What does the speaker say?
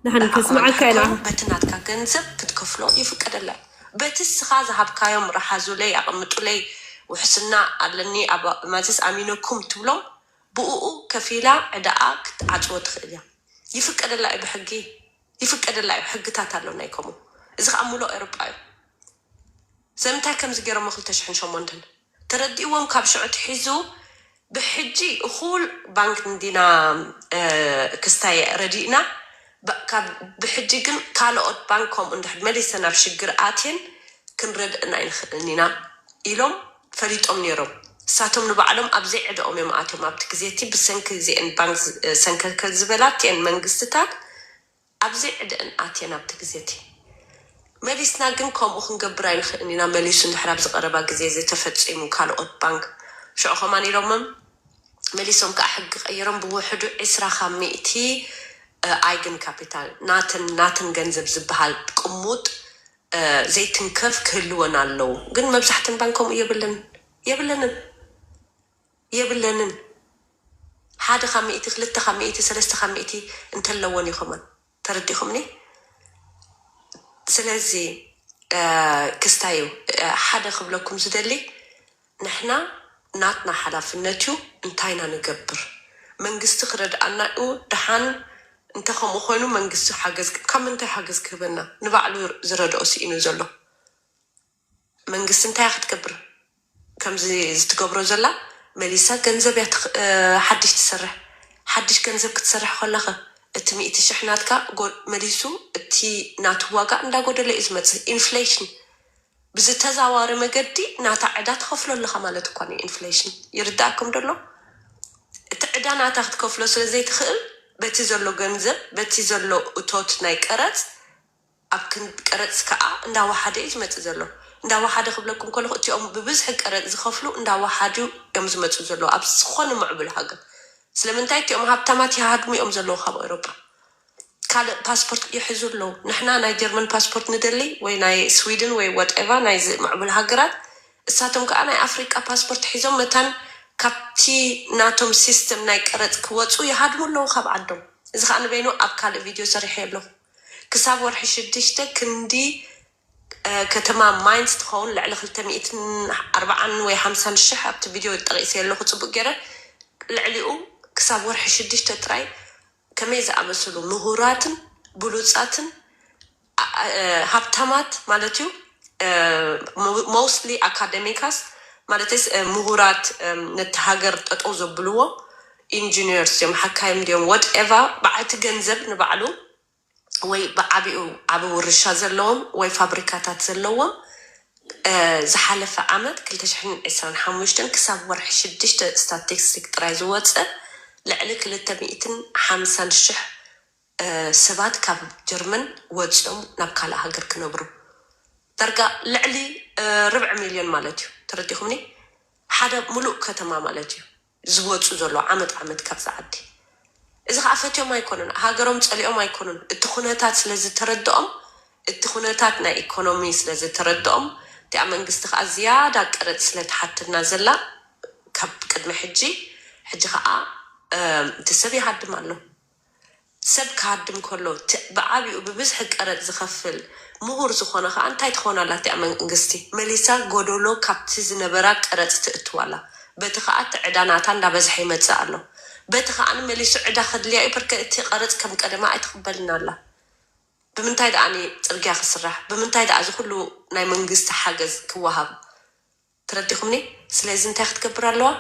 ንዓኹም ሓቶም በቲ ናትካ ገንዘብ ክትከፍሎ ይፍቀደላይ በቲ እስኻ ዝሃብካዮም ረሓዙለይ ኣቐምጡለይ ውሕስና ኣለኒ ኣብ ማዘስ ኣሚነኩም ትብሎም ብኡኡ ከፊላ ዕዳኣ ክትዓጽዎ ትኽእል እያ ይፍቀደላ'ዩ ብሕጊ ይፍቀደላ'ዩ ሕግታት ኣሎ ናይ ከምኡ እዚ ኸኣ ሙሉእ ኤሮጳ እዩ። ሰምንታይ ከምዚ ጌሮም ኣብ ክልተ ሽሕን ሸሞንተን ተረዲእዎም ካብ ሽዑ ኣትሒዙ ብሕጂ እኹል ባንክ እንዲና ክስታይ ረዲእና ካብ ብሕጂ ግን ካሎኦት ባንክ ከምኡ እንድሕር መሊሰን ኣብ ሽግር ኣትየን ክንረድእን ኣይንክእልን ኢና ኢሎም ፈሊጦም ኔሮም ንሳቶም ንባዕሎም ኣብ ዘይዕደኦም እዮም ኣትዮም ኣብቲ ግዜ እቲ ብሰንኪ እዚኤን ባንክ ሰንከልከል ዝበላ እቲኤን መንግስትታት ኣብዚ ዕደን ኣትየን ኣብቲ ግዜቲ መሊስና ግን ከምኡ ክንገብር ኣይንኽእን ኢና መሊሱ እንድሕር ኣብዚ ቀረባ ግዜ እዚ ተፈጺሙ ካልኦት ባንክ ሽዑ ከማን ኢሎምም መሊሶም ከኣ ሕጊ ቀይሮም ብውሕዱ ዕስራ ካብ ሚእቲ ኣይግን ካፒታል ናተን ናትን ገንዘብ ዝብሃል ቅሙጥ ዘይትንከፍ ክህልወን ኣለው ግን መብዛሕተን ባንክ ከምኡ የብለን የብለንን። የብለንን ሓደ ካብ ሚእቲ ክልተ ካብ ሚእቲ ሰለስተ ካብ ሚእቲ እንተለወን እዩ ከሞን ተረዲኩምኒ ስለዚ ክስታዩ ሓደ ክብለኩም ዝደሊ ንሕና ናትና ሓላፍነት እዩ እንታይ ኢና ንገብር መንግስቲ ክረድኣና እዩ ድሓን እንተ ከምኡ ኮይኑ መንግስቲ ሓገዝ ካብ ምንታይ ሓገዝ ክህበና ንባዕሉ ዝረድኦ ሲኢኑ ዘሎ መንግስቲ እንታይ እያ ክትገብር ከምዚ ዝትገብሮ ዘላ መሊሳ ገንዘብ እያ ሓድሽ ትሰርሕ ሓድሽ ገንዘብ ክትሰርሕ ከለከ እቲ ሚእቲ ሽሕ ናትካ መሊሱ እቲ ናቱ ዋጋ እንዳጎደለ እዩ ዝመፅእ ኢንፍሌሽን ብዝተዛዋሪ መገዲ ናታ ዕዳ ትከፍሎ ኣለካ ማለት እኳ እዩ ኢንፍሌሽን ይርደኣኩም ዶ ኣሎ እቲ ዕዳ ናታ ክትከፍሎ ስለዘይትክእል በቲ ዘሎ ገንዘብ በቲ ዘሎ እቶት ናይ ቀረፅ ኣብ ክንድ ቀረጽ ከኣ እንዳ ወሓደ እዩ ዝመጽእ ዘሎ። እንዳ ወሓደ ክብለኩም ከለኹ እቲኦም ብብዝሒ ቀረጽ ዝኸፍሉ እንዳ ወሓዱ እዮም ዝመጽኡ ዘለዉ ኣብ ዝኾነ ምዕቡል ሃገር። ስለምንታይ እቲኦም ሃብታማት ይሃድሙ እዮም ዘለዉ ካብ ኤውሮጳ። ካልእ ፓስፖርት ይሕዙ ኣለዉ። ንሕና ናይ ጀርመን ፓስፖርት ንደሊ ወይ ናይ ስዊድን ወይ ዋትኤቫ ናይዚ ምዕቡል ሃገራት እሳቶም ከኣ ናይ ኣፍሪቃ ፓስፖርት ሒዞም መታን ካብቲ ናቶም ሲስተም ናይ ቀረጽ ክወጹ ይሃድሙ ኣለዉ ካብ ዓዶም። እዚ ከኣ ንበይኑ ኣብ ካልእ ቪድዮ ሰሪሐዮ ኣለኹ። ክሳብ ወርሒ ሽዱሽተ ክንዲ ከተማ ማይንዝ ትኸውን ልዕሊ ክልተ ሚእትን ኣርባዓን ወይ ሓምሳን ሽሕ ኣብቲ ቪድዮ ጠቒሰዮ ኣለኹ ጽቡቕ ገይረ። ልዕሊኡ ክሳብ ወርሒ ሽዱሽተ ጥራይ ከመይ ዝኣመሰሉ ምሁራትን ብሉጻትን ሃብታማት ማለት'ዩ ሞስትሊ ኣካደሚካስ ማለተይስ ምሁራት ነቲ ሃገር ጠጠው ዘብልዎ ኢንጂነርስ ድዮም ሓካይም ድዮም ወት ኤቫ በዓልቲ ገንዘብ ንባዕሉ ወይ ብዓቢኡ ዓቢ ውርሻ ዘለዎም ወይ ፋብሪካታት ዘለዎም ዝሓለፈ ዓመት ክልተ ሽሕን ዕስራን ሓሙሽተን ክሳብ ወርሒ ሽዱሽተ ስታትስቲክ ጥራይ ዝወጸ ልዕሊ ክልተ ሚእትን ሓምሳን ሽሕ ሰባት ካብ ጀርመን ወጺኦም ናብ ካልእ ሃገር ክነብሩ ዳርጋ ልዕሊ ርብዒ ሚልዮን ማለት እዩ ተረዲኩምኒ ሓደ ሙሉእ ከተማ ማለት እዩ። ዝወጹ ዘሎ ዓመት ዓመት ካብዛ ዓዲ። እዚ ከኣ ፈትዮም ኣይኮኑን ሃገሮም ጸሊኦም ኣይኮኑን እቲ ኩነታት ስለ ዝተረድኦም እቲ ኩነታት ናይ ኢኮኖሚ ስለ ዝተረድኦም እቲኣ መንግስቲ ከኣ ዝያዳ ቀረጽ ስለ ትሓተና ዘላ ካብ ቅድሚ ሕጂ ሕጂ ከኣ እቲ ሰብ ይሃድም ኣሎ ሰብ ክሃድም ከሎ እቲ ብዓቢኡ ብብዝሒ ቀረጽ ዝኸፍል ምሁር ዝኾነ ከኣ እንታይ ትኸውን ኣላ እቲኣ መንግስቲ መሊሳ ጎደሎ ካብቲ ዝነበራ ቀረጽ ትእትው ኣላ በቲ ከኣ እቲ ዕዳ ናታ እንዳበዝሐ ይመጽእ ኣሎ በቲ ከኣ መሊሱ ዕዳ ከድልያ እዩ በርከ እቲ ቀረጽ ከም ቀደማ ኣይትቕበልን ኣላ ብምንታይ ደኣ ጽርግያ ክስራሕ ብምንታይ ደኣ እዚ ኩሉ ናይ መንግስቲ ሓገዝ ክወሃብ ተረዲኹምኒ ስለዚ እንታይ ክትገብር ኣለዋ